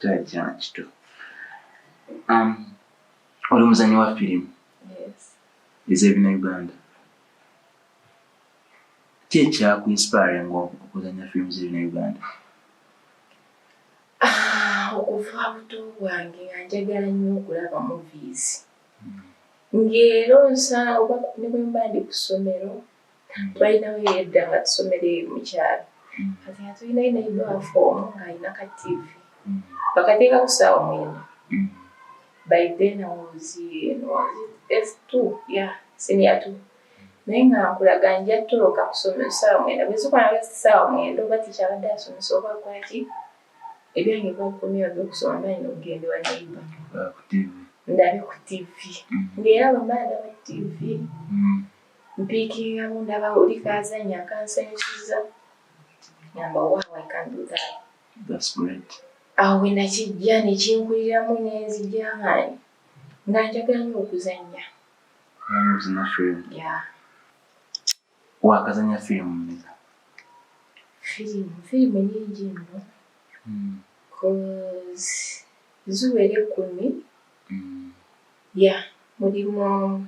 Tajja kito. Um, oli muzanyi wa firimu ez'ebina Uganda. Ki ekyaku inspire nga okuzanya firimu z'ebina Uganda? Ah, okuva buto bwange nga njagala nnyo okulaba movies. Hmm. Ng'era onsanga oba ne bwe mba ndi ku ssomero balinawo mm. yedda nga tusomere mukyalo mm. kati nga tulinayo naye baafu omu ng'alina ka tivi mm. bakateeka ku saawa mwenda by then awozi s two ya senior two naye nga nkulaga nja toloka kusomero saawa mwenda bwezikwana basi saawa mwenda oba tikyabadde asomesa oba kwaki ebyange bwakomyewo byokusoma mba nina okugenda wa neiba ndabe ku tivi ngaera bamala ndaba tivi mpiikiriramu ndaba oli kaazanya kansanyusiza namba waawa ikanduda awo bwe nakijja ne kinkuliramu nenzija nga nga njagala nyo okuzannya wakazanya firimu mmeka firimu firimu nyingi nno hmm. ziwera ekkumi hmm. ya mulimu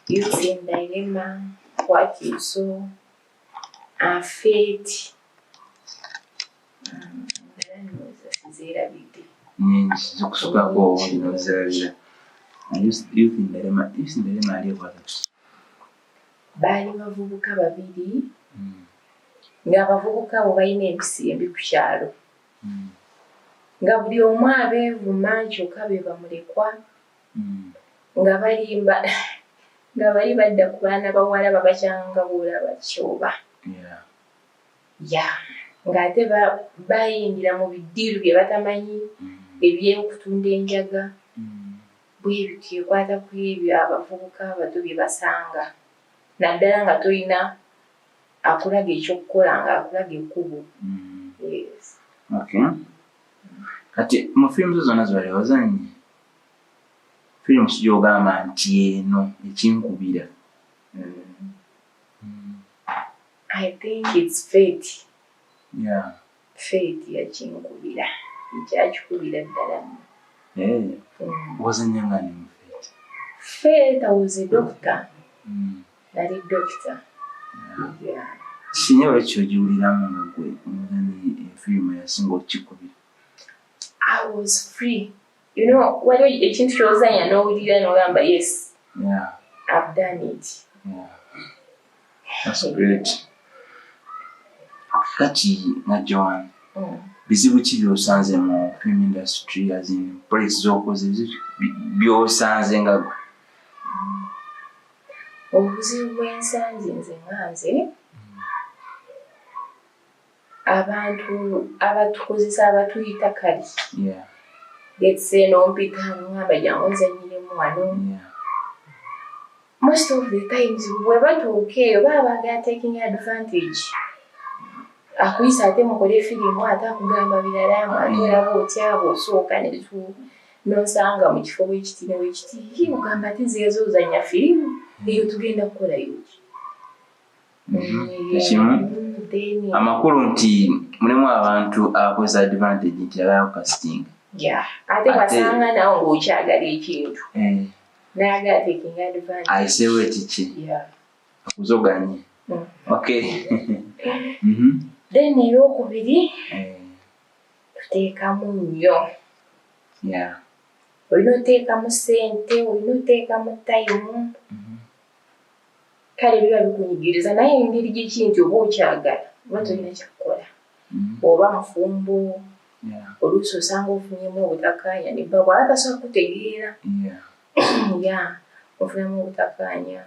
using dilemma what you saw afeeti zeerabidde zikusukako olina ozirabira yusinderema ali ekwatatu baali bavubuka babiri hmm. ng'abavubuka abo balina empisi embi ku kyalo mm. nga buli omu abeevuma kyokka be bamulekwa mm. nga balimba nga bali badda ku baana bawala babakyanga boolaba kyoba ya ng'ate bayingira mu bidiiru bye batamanyi mm. ebyokutunda enjaga bwebityo ekwata ku ebyo abavubuka abato bye basanga naddala nga tolina akulaga ekyokukola nga akulaga ekkubo mm. kati mu firimu zo zonna zibali wazanyi firimu sigyogamba nti eno ekinkubira mm. i think its fate yeah. Faith yakinkubira ekyakikubira ddala nno. Eh, wazannya nga ne mu Faith? Faith I was a doctor. Mm. Nali doctor. Mm. Yeah. Sinye lwaki ogiwuliramu nga gwe omugani efirimu yasinga okukikubira? I was free. you know waliwo ekintu kyozanya n'owulira n'ogamba yes yeah. i've done it yeah. that's great kati na joan mm. bizibu ki byosanze mu film industry as in place zokoze byosanze nga gwe mm. obuzibu bwensanze nze nganze mm. abantu abatukozesa abatuyita kali getse nompita nohamba jangu nze nyirimu wano most of the times webatuuka eyo baba bagala taking advantage akuyisa ate mukole firimu ate akugamba biralamu ate olaba otyabo osooka netu nosanga mu kifo wekiti newekiti ogamba ati zeezoozanya firimu eyo tugenda kukolayoki ekimu amakulu nti mulimu abantu abakozesa advantage nti abayaku kasitinga ate wasanga nawe ngaokyagala ekintu eh. nayagala taking advantage ayisewo ekiki akuzoganye mm. ok mhm. then eyokubiri eh. tuteekamu nnyo olina oteekamu sente olina oteekamu tayimu kale biba bikunyigiriza naye engeri gyeki nti oba okyagala oba tolina kyakukola mm-hmm. oba mufumbo oluusi osanga ofunyemu obutakanya nebba bwaba tasobola kutegeera ya ofunamu obutakanya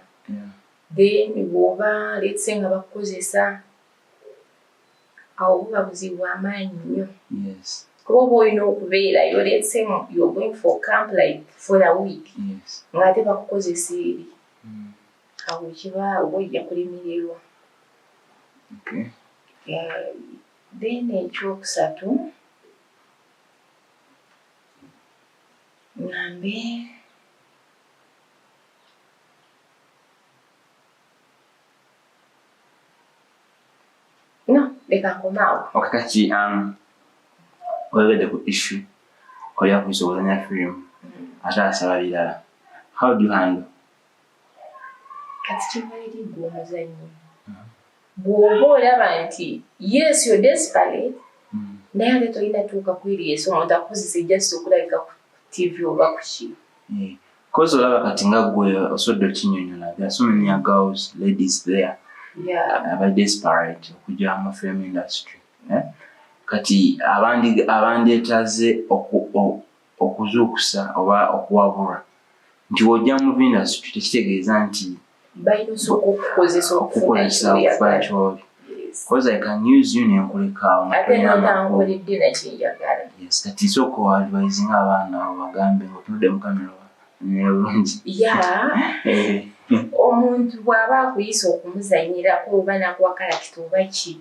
then bwoba letse nga bakukozesa awo guba buzibu bwamaanyi nnyo kuba oba olina okubeerayo letsemu yogoing for camp like for a week ngaate bakukozesa eri mm. awo kiba oba ojja kulemererwa then ekyokusatu ngambe no leka nkomaawo okay kati um oyogedde ku issue oli akuyisa okuzanya firimu mm-hmm. ate asaba birala how do you handle kati kimaliri gwe omuzanyi bw'oba olaba nti yes yo desperate mm. naye ate tolina tuuka kwiriyeso omuntu akukozesa ejjasi okulabika ku tv oba kuki mm. Kozi olaba kati nga gwe osodde okinyonyola there are so many girls ladies there aba desperate okuja mu film industry eh? kati abandyetaze okuzuukusa oba okuwabura nti wojja mu industry tekitegeeza nti bayinza okukukozesa okukukola ekibi because I can use you nenkulekaawo yes kati sooka oadvising abaana abo bagambe nga otunudde mu kamera nera bulungi eh. omuntu bw'aba akuyisa okumuzanyirako oba nakuwakalakita oba ki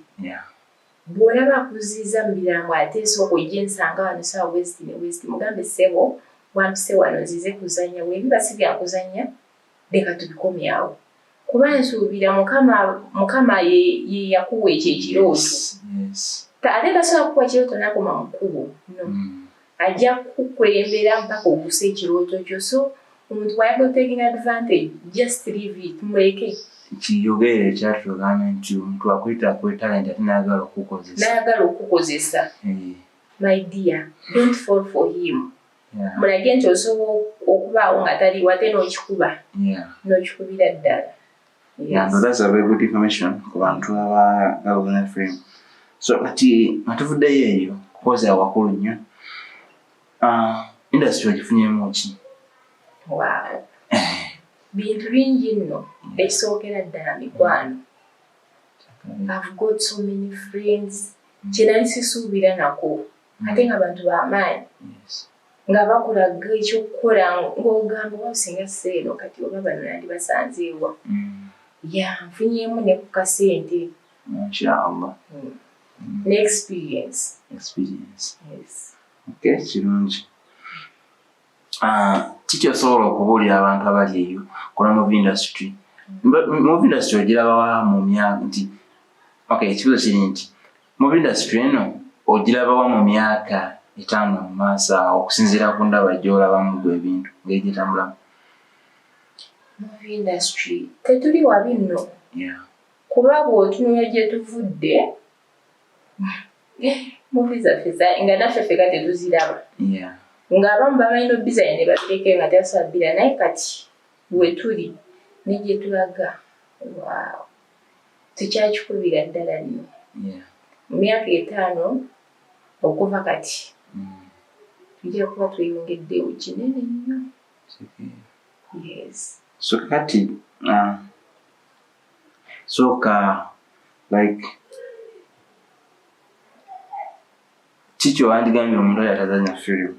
bw'olaba akuziiza mu birango ate esooka ojja ensanga wano saawa west ne west mugambe sebo wampise wano nzize kuzanya webiba si byakuzanya leka tubikomye awo kuba nsuubira mukama mukama ye ye yakuwa ekyo ekirooto Yes. Ta- ate tasobola kukuwa kirooto nakoma mu kkubo no Mm. ajja kukukulembera mpaka okusa ekirooto kyo so omuntu bwayagala taking advantage just leave it muleke kiyogere ekyatugamba nti omuntu akwita ku talenti ate nayagala okukukozesa nayagala okukukozesa Eh, my dear don't fall for him mulage nti osobola okubaawo nga taliwo ate n'okikuba n'okikubira ddala kubantu abagalfm so kati atuvuddeyo eyo kukozi awakulu nnyo ah, industry ogifunyemu ki bintu bingi nno ekisookera ddala mikwano I've got so many friends kyenali sisuubira nako ate nga bantu bamaanyi nga bakulaga ekyokukola ngaogamba oba singa seeno kati oba bano nandi basanzeewa mm. ya nfunyemu ne ku kasente inshaallah mm. mm. ne experience experience yes okay kirungi ah, kiki osobola okubuulira abantu abali eyo kola move industry move industry ogirabawa mu myaka nti okay ekibuzo kiri nti Mu industry eno ogilabawa mu myaka etaano mu maaso awo okusinziira ku ndaba gy'olabamu gwe ebintu ngeri gyetambulamu? Mu industry tetuli wabi nno kuba bw'otunula gye tuvudde muvi zaffe nga naffe feka tetuziraba ng'abamu bamanyi n'obizanyo ne babireke nga tebasabbira naye kati wetuli ne gye tulaga waawo tukyakikubira ddala nyo mu myaka etaano okuva kati mm. tujja kuba tweyongeddewo kinene nnyo so kati uh, soka like kikyo wandigambye omuntu oyo atazanya firimu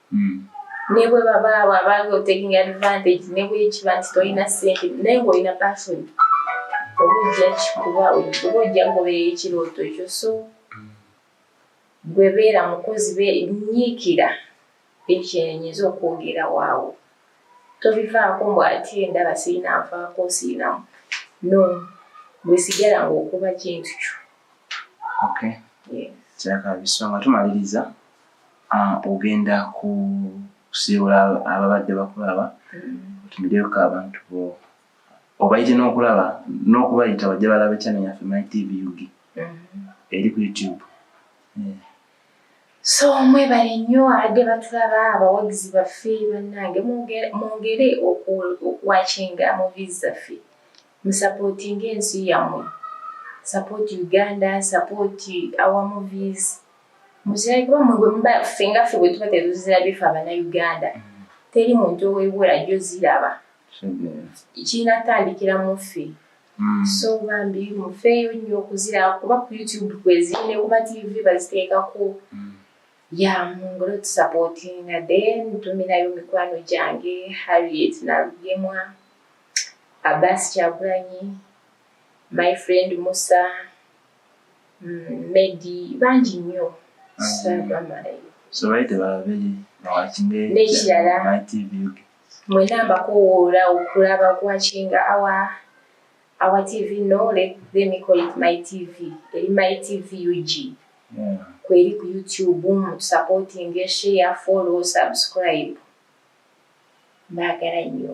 hmm. ne bwe babaawo abanga otaking advantage ne bwekiba nti tolina sente naye ngaolina passion oba ojja kikuba oba ojja kugoberera ekirooto ekyo so hmm. gwe beera mukozi benyiikira ekyenyinza okwogera waawo tobivaako mbu ate endaba sirina nfaako sirinamu no bwesigala ngaokuba kintu kyo kyakabisonga tumaliriza Ah, ogenda kusiibula ababadde bakulaba mm. otumideeko abantu bo obayite n'okulaba n'okubayita bajja balaba ekyana yaffe my tv ug mm. eri ku youtube eh. so mwebale nnyo abadde batulaba abawagizi baffe bannange mwongere okuwakinga movies zaffe musapootinga ensi yammwe support uganda support our movies muzilabe kuba mwe bwe muba fenga ffe bwe tuba tetuzirabye ffe abanauganda mm. teri muntu owebula jo ziraba kirina kutandikira mu ffe mm. so bambi mufeeyo nnyo okuziraba kuba ku youtube kweziri ne kuba tv baziteekako mm. ya mungolo tusapotinga then tuminayo mikwano gyange harriet nalugemwa abas kyagulanyi my friend musa Mm, medi bangi nnyo sabamalayo sobaye tebababere nekirala mwena mbakowoola okulaba kwakinga awa awa tv no let, let me call it my tv eri my tv ug mm. kweri ku youtube mutusupporting share follow subscribe mbagala nnyo